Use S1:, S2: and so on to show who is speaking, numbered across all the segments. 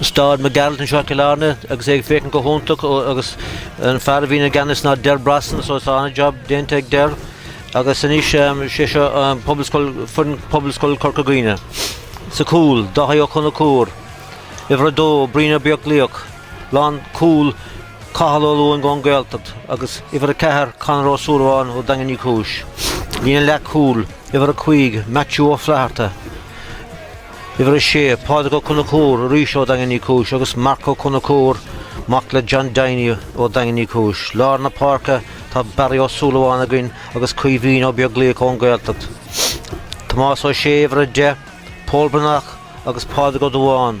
S1: Stáid Mac Gearailt anseo i gCill Airne agus é ag féachaint go hiontach agus an fear a bhíonn i gceannas ná Ger Brosnan so tá an-job déanta ag Ger agus anois sé seo Pobalscoil foireann Pobalscoil Chorca Dhuibhne sa cúl, Dáithí Ó Conchúir, uimhir a dó, Brian Ó Beaglaoich, lán cúl, Cathal Ó Lúing ón Gaeltacht agus uimhir a ceathair, Conor Ó Súilleabháin ó Daingean Uí Chúis, líne leath cúl, uimhir a cúig, Maitiú Ó Flatharta. Uimhir 6, Pádraig Ó Conchúir, arís ó Dhaingean Uí Chúis, agus Marc Ó Conchúir, mac le John Diony ó Dhaingean Uí Chúis. Lár na páirce tá Barry Ó Súilleabháin againn agus Caoimhín Ó Beaglaoich ón Gaeltacht. Tomás Ó Sé, uimhir 10, Pól Breathnach agus Pádraig Ó Dubháin.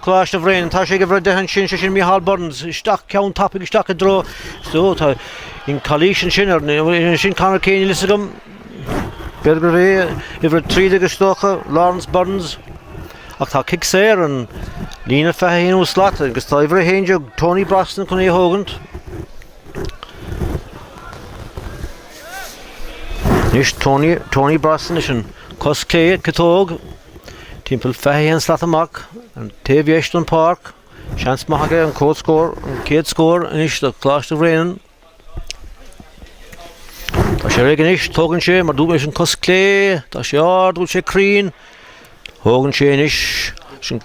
S1: Coláiste Bhréanainn. Tá sé ag uimhir a deich ansin, sé sin Micheál Burns, isteach ceann tapaidh isteach i dtreo, so, tá, an calaois ansin ar na, bhuel, sin Conor Keane níl fhios agam, b'fhéidir gurbh é uimhir a trí déag is dócha, Laurence Burns, ach tá cic saor an líne 21 slat agus tá uimhir a haon déag Tony Brosnan chun é a thógaint. Anois Tony, Tony Brosnan leis an cos clé ciotóg Timpeall 21 slat amach, an taobh dheis den pháirc, seans maith aige an céad scór, an chéad scór anois do Choláiste Bhréanainn. Tá sé réidh anois, tógann sé mar dúirt leis an cos clé, tá sé ard, bhfuil sé cruinn, thógann sé anois leis an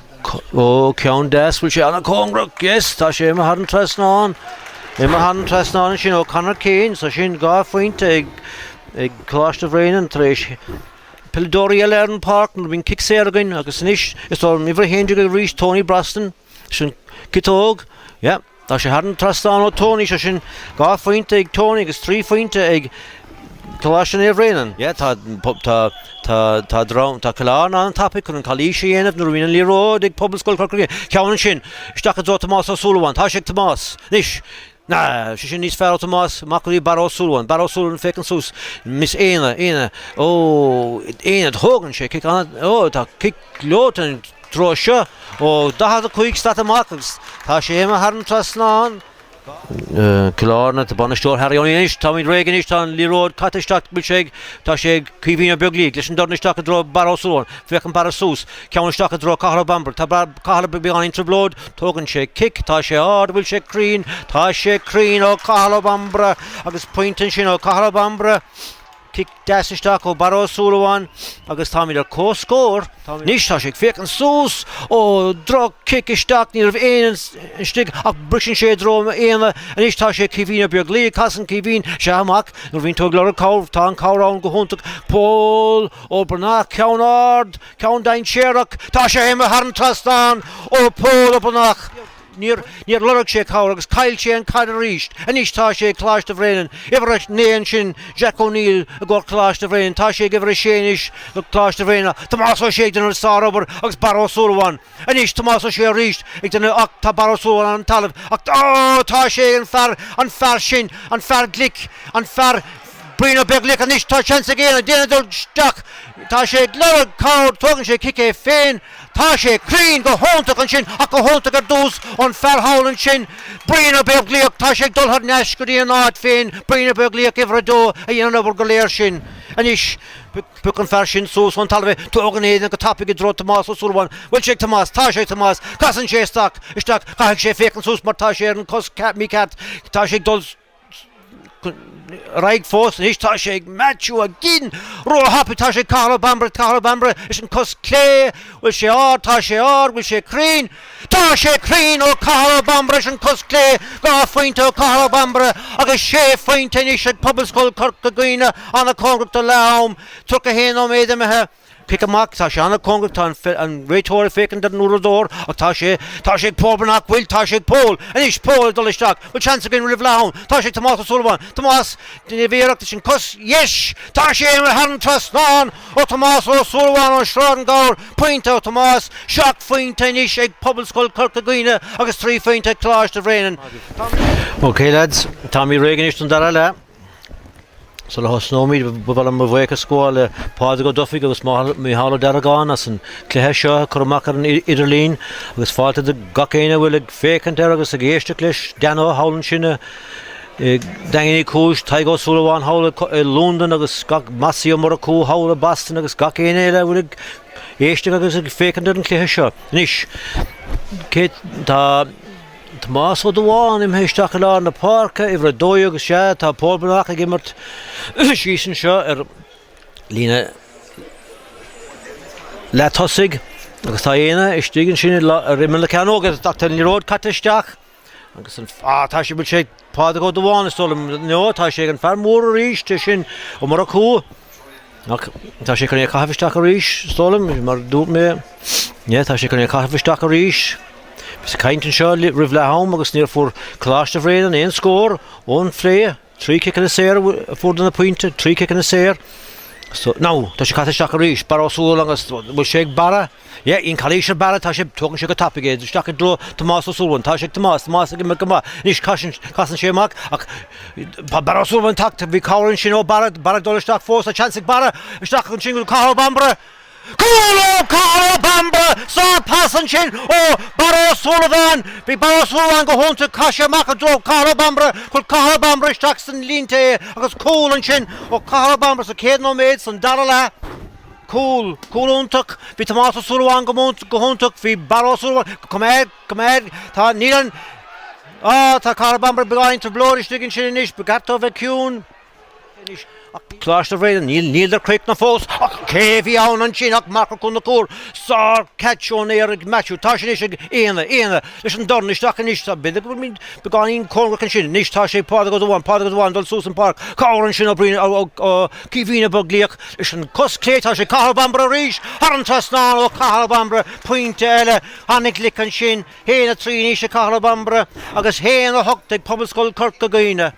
S1: ó ceann deas, bhfuil sé ana cóngarach, yes, tá sé imithe thar an trasnán, imithe thar an trasnán ansin, ó Conor Keane, so sin dhá phointe ag ag Coláiste Bhréanainn tar éis peileadóirí eile ar an pháirc nuair a bhíonn cic saor againn agus anois is ár n-uimhir a haon déag arís Tony Brosnan, leis an ciotóg, yeah, tá sé thar an trasnán ó Tony, sé sin dhá phointe ag Tony agus trí phointe ag Coláiste Naomh Bhréanainn, yeah, tá, tá, tá, tá drám, tá Coláiste ana-thapaidh chun an calaois a dhéanamh nuair a bhíonn an liathróid ag Pobalscoil, ceann ansin, isteach i dtreo Tomás Ó Súilleabháin, tá sé ag Tomás, anois, Na, sé sin níos fearr ó Tomás amach go dtí Barra Ó Súilleabháin. Barra Ó Súilleabháin féachann suas. Anois Éanna, Éanna, Ó, Éanna, thógann sé cic an-, ó, tá cic leoite an treo seo ó 45 slat amach agus tá sé imithe thar an trasnán. Cill Airne, bainisteoir Harry O'Neill anois, táimid réidh anois, tá an liathróid caite isteach, bhfuil sé ag, tá sé ag, Caoimhín Ó Beaglaoich, leis an dorn isteach i dtreo Barra Ó Súilleabháin, féachann Barra suas, ceann isteach i dtreo Cathal Ó Bambaire. Tá Cathal i beagáinín trioblóid, tógann sé cic, tá sé ard, bhfuil sé cruinn, tá sé cruinn ó Cathal Ó Bambaire agus pointe ansin ó Cathal Ó Bambaire, cic deas isteach ó Barra Ó Súilleabháin agus táimid ar comhscór. Anois tá sé ag féachaint suas ó droch cic isteach, ní raibh éinne istigh ach briseann sé i dtreo Éanna, anois tá sé ag Caoimhín Ó Beaglaoich, casann Caoimhín, sea amach, nuair a bhíonn tú ag lorg cabhair, tá an cabhair ann go hiontach, Pól Breathnach, ceann ard, Ceann dainséarach, tá sé imithe thar an trasnán ó Pól Breathnach. Níor lorg sé cabhair agus caill sé an caid arís. Anois tá sé ag Coláiste Bhréanainn. Uimhir 9 ansin Jack O'Neill i gcomhair Coláiste Bhréanainn. Tá sé ag uimhir 6 anois do Coláiste Bhréanainn. Tomás Ó Sé ag déanamh sár-obair agus Barra Ó Súilleabháin. Anois Tomás Ó Sé arís ag déanamh ach tá Barra Ó Súilleabháin ar an talamh ach Ó! tá sé, an fear, an fear sin, an fear glic, an fear, Brian Ó Beaglaoich anois tá seans ag Geaney Geaney ag dul isteach tá sé ag lorg cabhair tógann sé cic é féin tá sé cruinn go hiontach ansin ach go hiontach ar dtús ón fear thall ansin Brian Ó Beaglaoich tá sé ag dul thar n-ais go dtí an áit féin Brian Ó Beaglaoich uimhir a dó a dhein an obair go léir sin anois Pioc an fear sin suas ón talamh é. Tógann Aodh é go tapaidh i dtreo Tomás Ó Súilleabháin. Bhfuil sé ag Tomás? Tá sé ag Tomás. Casann sé isteach. Caithfidh sé féachaint suas mar tá sé ar an cos mícheart. Tá sé ag dul ar aghaidh fós anois tá sé ag Maitiú a gcinn róthapa tá sé ag Cathal Bambaire Cathal Ó Bambaire leis an cos clé bhfuil sé ard tá sé ard bhfuil sé cruinn Tá sé cruinn ó Cathal Ó Bambaire leis an cos clé, dhá phointe ó Cathal Ó Bambaire agus sé phointe anois ag Pobalscoil Corca Dhuibhne an-cóngarach do leath-am, 31 nóiméad imithe. Cic amach, tá sé an-cóngarach, tá an réiteoir ag féachaint ar an uaireadóir ach tá sé, tá sé ag Pól Breathnach bhfuil, tá sé ag Pól, anois Pól ag dul isteach, bhfuil seans againn roimh leath-am, tá sé ag Tomás Ó Súilleabháin, Tomás, ag déanamh iarracht leis an cos dheis, tá sé imithe thar an trasnán! Ó Thomás Ó Súilleabháin, ó Sráid an Ghabhair, pointe ó Thomás, seacht phointe anois ag Pobalscoil Chorca Dhuibhne agus trí phointe ag Coláiste Bhréanainn. Tá. Ok lads, táimid réidh anois don dara leath. Sula thosnóimid ba mhaith liom mo bhuíochas a ghabháil le Pádraig Ó Dufaigh agus Mícheál Ó Deargáin as an cluiche seo a chur amach ar an idirlíon agus fáilte do gach éinne a bhfuil ag féachaint air agus ag éisteacht leis, Dano thall ansin i Daingean Uí Chúis, Tadhg Ó Súilleabháin, thall i Londain agus Mossie Ó Murchú, thall i Boston agus gach éinne eile a bhfuil ag éisteacht agus ag féachaint ar an chluiche seo anois. Tá Tomás Ó Dubháin imithe isteach i lár na páirce, uimhir a dó dhéag is ea é. Tá Pól Breathnach ag imirt síos anseo ar líne leath-thosaigh agus tá Geaney istigh ansin ar imeall na cearnóige. Tá an liathróid caite isteach. Agus an fear tá sé bhfuil sé ag Pádraig Ó Dubháin is dóigh liom nó tá sé ag an fear mór arís é sin Ó Murchú ach tá sé chun é a caitheamh isteach arís is dóigh liom mar dúirt mé yeah tá sé chun é a caitheamh isteach arís. Bhíos ag caint anseo roimh leath am agus níor fuair Coláiste Bhréanainn aon scór ón phlé. Trí ciceanna saor a fuaireadar na pointí, trí ciceanna saor. Now, tá sé caite isteach arís, Barra Ó Súilleabháin agus bhfuil sé ag Barra, yeah, an calaois ar Barra, tá sé, tógann sé go tapaidh é isteach i dtreo Tomás Ó Súilleabháin, tá sé ag Tomás, Tomás ag imeacht go maith, anois casann, casann sé amach ach tá Barra Ó Súilleabháin tagtha, bhí cabhair ansin ó Barra, Barra ag dul isteach fós, tá seans ag Barra isteach ansin go Cathal Ó Bambaire. Cúl ó Cathal Ó Bambaire sár pas ansin ó Barra Ó Súilleabháin. Bhí Barra Ó Súilleabháin go hiontach chas sé amach i dtreo Cathal Ó Bambaire. Chuir Cathal Ó Bambaire isteach san línte é agus cúl ansin ó Cathal Ó Bambaire sa chéad nóiméad san dara leath. Cúl. Cúl iontach. Bhí Tomás Ó Súilleabháin go hiontach. Bhí Barra Ó Súilleabháin. Come here. Come here. Tá níl an Á tá Cathal Ó Bambaire beagán trioblóid istigh ansin anois. Ba cheart dó bheith ciúin. Coláiste Bhréanainn. Níl, níleadar críochnaithe fós. Ach cé a bhí ann ansin ach Marc Ó Conchúir, sár-chatch ón aer ag Matthew. Tá sé anois ag Éanna, Éanna leis an dorn isteach anois. Tá, b'fhéidir go bhfuil muid beagáinín cóngarach ansin. Anois tá sé ag Pádraig Ó Dubháin, Pádraig Ó Dubháin ag dul suas an páirc. Cabhair ansin ó Brian Ó, ó Caoimhín Ó Beaglaoich leis an cos chlé. Tá sé ag Cathal Bambaire arís. Thar an trasnán ó Chathal Bambaire, pointe eile. Ana-ghlic ansin. 1, 3 anois ag Cathal Bambaire agus 1, 8 ag Pobalscoil Chorca Dhuibhne.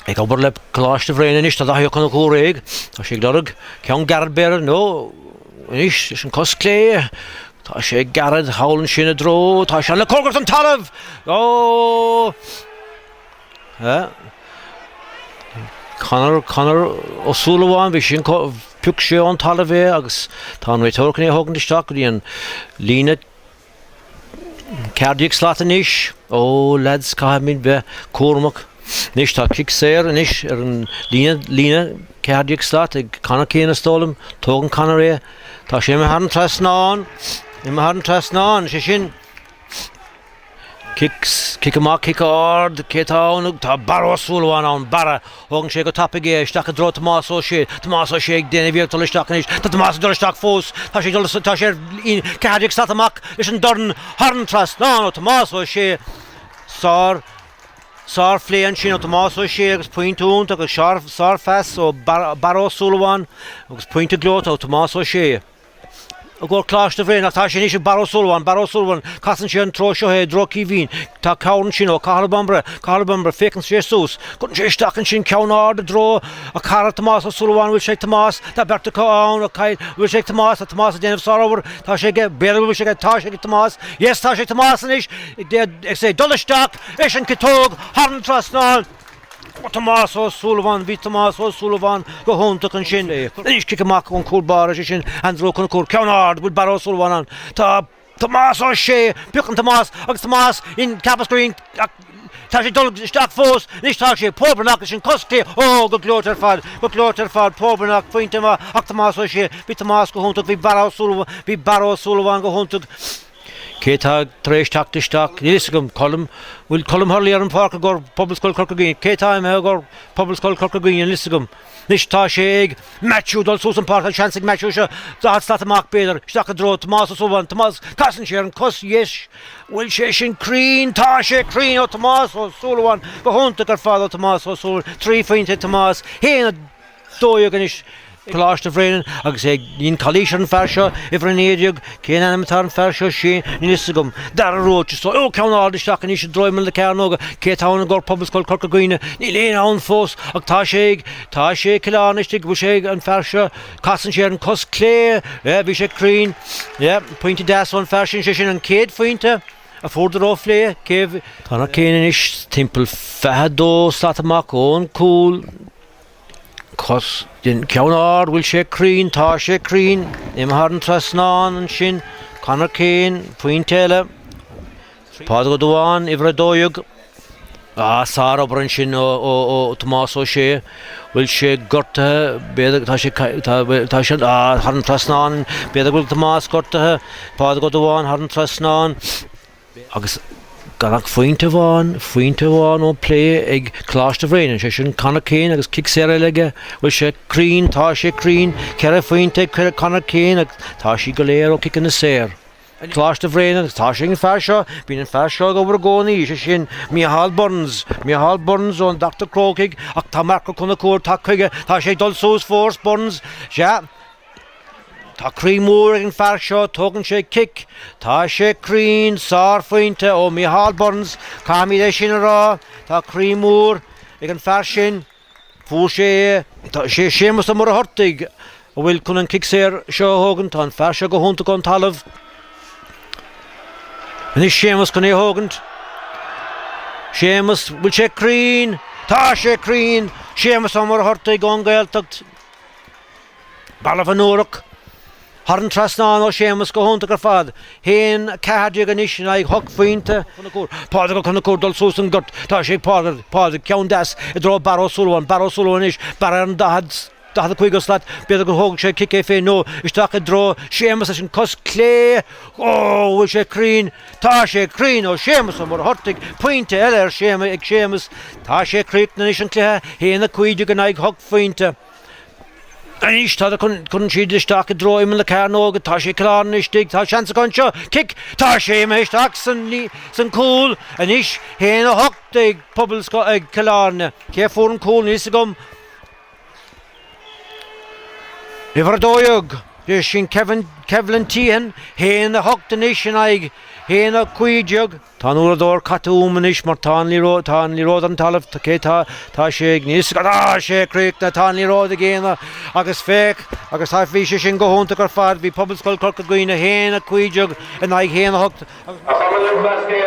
S1: Ag obair le Coláiste Bhréanainn anois tá Daithí Ó Conchúir. Tá sé ag lorg ceann gairid b'fhéidir nó anois leis an cos clé. Tá sé ag Gearóid, thall ansin i dtreo, tá sé ana-chóngarach don talamh! Ó! Conor, Conor Ó Súilleabháin, bhí sé, phioc sé ón talamh é agus tá an réiteoir chun é a thógaint isteach go dtí an líne Ceathair déag slat anois. Ó, leaids, caithfimid bheith cúramach. Anois, tá cic saor anois ar an líne, líne, ceathair déag slat, ag Conor Keane, is dóigh liom. Tógann Conor é. Tá sé imithe thar an trasnán. Imithe thar an trasnán, sé sin. Cic amach, cic ard, cé tá ann? Tá Barra Ó Súilleabháin ann, Barra. Tógann sé go tapaidh é, isteach i dtreo Tomás Ó Sé. Tomás Ó Sé ag déanamh iarracht dul isteach anois. Tá Tomás ag dul isteach fós. Tá sé ag dul, tá sé ar líne ceathair déag slat amach leis an dorn. Thar an trasnán ó Tomás Ó Sé. Sár, sár phlé ansin ó Tomás Ó Sé agus pointe iontach agus sár, sár phas ó Barra Ó Súilleabháin agus pointe gleoite ó Tomás Ó Sé. go Coláiste Bhréanainn ach tá sé anois ag Barra Ó Súilleabháin, Barra Ó Súilleabháin, casann sé an treo seo é, i dtreo Chaoimhín, tá cabhair ansin ó Cathal Bambaire, Cathal Bambaire, féachann sé suas, cuireann sé isteach ansin ceann ard i dtreo a chara Tomás Ó Súilleabháin, bhfuil sé ag Tomás, tá beirt acu ann, an bhfuil, bhfuil sé ag Tomás, tá Tomás ag déanamh sárobair, tá sé aige, b'fhéidir go bhfuil sé aige, tá sé ag Tomás, yes, tá sé ag Tomás anois, ag dul isteach, leis an ciotóg, thar an trasnán, Tomás Ó Súilleabháin Bhí Tomás Ó Súilleabháin go hiontach ansin. Anois cic amach ón cúlbáire, is é sin Andrew Ó Conchúir, ceann ard, bhfuil Barra Ó Súilleabháin ann? Tá Tomás Ó Sé, piocann Tomás agus Tomás ceapas go raibh ach tá sé ag dul isteach fós, anois tá sé ag Pól Breathnach leis an cos chlé, ó go gleoite ar fad, go gleoite ar fad, Pól Breathnach, pointe maith ach Tomás Ó Sé, bhí Tomás go hiontach, bhí Barra Ó Súilleabháin, bhí Barra Ó Súilleabháin go hiontach. Cé tá tar éis teacht isteach? Níl fhios agam. Colm, Bhfuil Colm Hurley ar an pháirc i gcóir Phobalscoil Chorca Dhuibhne? Cé tá imithe i gcóir Phobalscoil Chorca Dhuibhne? Níl fhios agam. Anois tá sé ag Matthew dul suas an pháirc. Tá seans ag Matthew seo 40 slat amach b'fhéidir. Isteach i dtreo Tomás Ó Súilleabháin. Tomás, casann sé ar an cos dheis. Bhfuil sé sin cruinn? Tá sé cruinn ó Tomás Ó Súilleabháin. Go hiontach ar fad ó Tomás Ó Súilleabháin. Trí phointe ag Tomás. Shéan a. 12 anois, Coláiste Bhréanainn agus é ag. Níl calaois ar an fear seo, uimhir 19, cén ainm atá ar an fear seo, sé, níl fhios agam. Dara Róiste, is dóigh, ó, ceann ard isteach aníos i dtreo imeall na cearnóige, cé tá ann i gcomhair Pobalscoil Corca Dhuibhne, níl éinne ann fós, ach tá sé ag, tá sé ag Cill Airne istigh, bhfuil sé ag, an fear seo, casann sé ar an cos clé, yeah, bhí sé cruinn, yeah, pointe deas ón fear sin, sé sin an chéad phointe a fuair Dara ón bplé. Conor Keane anois timpeall fiche dó slat amach ón cúl. cos dheas ceann ard bhfuil sé cruinn tá sé cruinn imithe thar an trasnán ansin Conor Keane pointe eile Pádraig Ó Duáin uimhir 12 á sár obair ansin ó ó ó Tomás Ó Sé bhfuil sé gortaithe b'fhéidir tá sé tá sé á thar an trasnán b'fhéidir bhfuil Tomás gortaithe Pádraig Ó Duáin thar an trasnán Agus gan ach phointe amháin, phointe amháin ón bplé ag Coláiste Bhréanainn, sé sin Conor Keane agus cic saor eile aige, bhfuil sé cruinn, tá sé cruinn, ceithre phointe ag cuir Conor Keane agus tá siad go léir ó ciceanna saor. Coláiste Bhréanainn agus tá sé ag an fear seo, bíonn an fear seo ag obair i gcónaí, sé sin Micheál Burns, Micheál Burns ón Dr. Crócaigh ach tá Mark Ó Conchúir tagtha chuige, tá sé ag dul suas fós, Burns, sea, Tá croí mór ag an fear seo, tógann sé cic. Tá sé cruinn, sárphointe ó Micheál Burns, caithfimid é sin a rá. Tá croí mór ag an fear sin, fuair sé é. Tá sé Séamus Ó Muircheartaigh a bhfuil chun an cic saor seo a thógaint. Tá an fear seo go hiontach ón talamh. Anois Séamus chun é a thógaint. Séamus, bhfuil sé cruinn? Tá sé cruinn! Séamus Ó Muircheartaigh ón Gaeltacht. Balbh na Ruc. Thar an trasnán ó Séamus go hiontach ar fad. Haon ceathair déag anois in aghaidh hocht phointe. Pádraig Ó Conchúir dul suas an gort. Tá sé ag Pádraig. Pádraig ceann deas i dtreo Barra Ó Súilleabháin. Barra Ó Súilleabháin anois. Barra ar an daichead, daichead a cúig slat. B'fhéidir go dtógfaidh sé cic é féin nó isteach i dtreo Séamus leis an cos clé. Ó bhfuil sé cruinn. Tá sé cruinn ó Séamus Ó Muircheartaigh. Pointe eile ar Séamus, ag Séamus. Tá sé críochnaithe anois an cluiche. Haon a cúig déag in aghaidh hocht phointe. Anois tá cuireann siad isteach i dtreo imeall na cearnóige, tá sé glan istigh, tá seans acu anseo, cic, tá sé imithe isteach san cúl anois, haon a hocht ag pobal ag Chill Airne, cé a fuair an cúl níl fhios agam? Uimhir a dó dhéag, b'shin Kevlin Teehan, haon a hocht anois in aghaidh haon a cúig déag. Tá an uaireadóir caite uaim anois mar tá an liathróid, tá an liathróid ar an talamh, tá, cé tá, tá sé ag níos, tá sé críochnaithe, tá an liathróid ag déanamh agus féach agus tá, bhí sé sin go hiontach ar fad, bhí Pobalscoil Chorca Dhuibhne haon a cúig déag in aghaidh haon a hocht agus bhí sé sin go hiontach ar fad.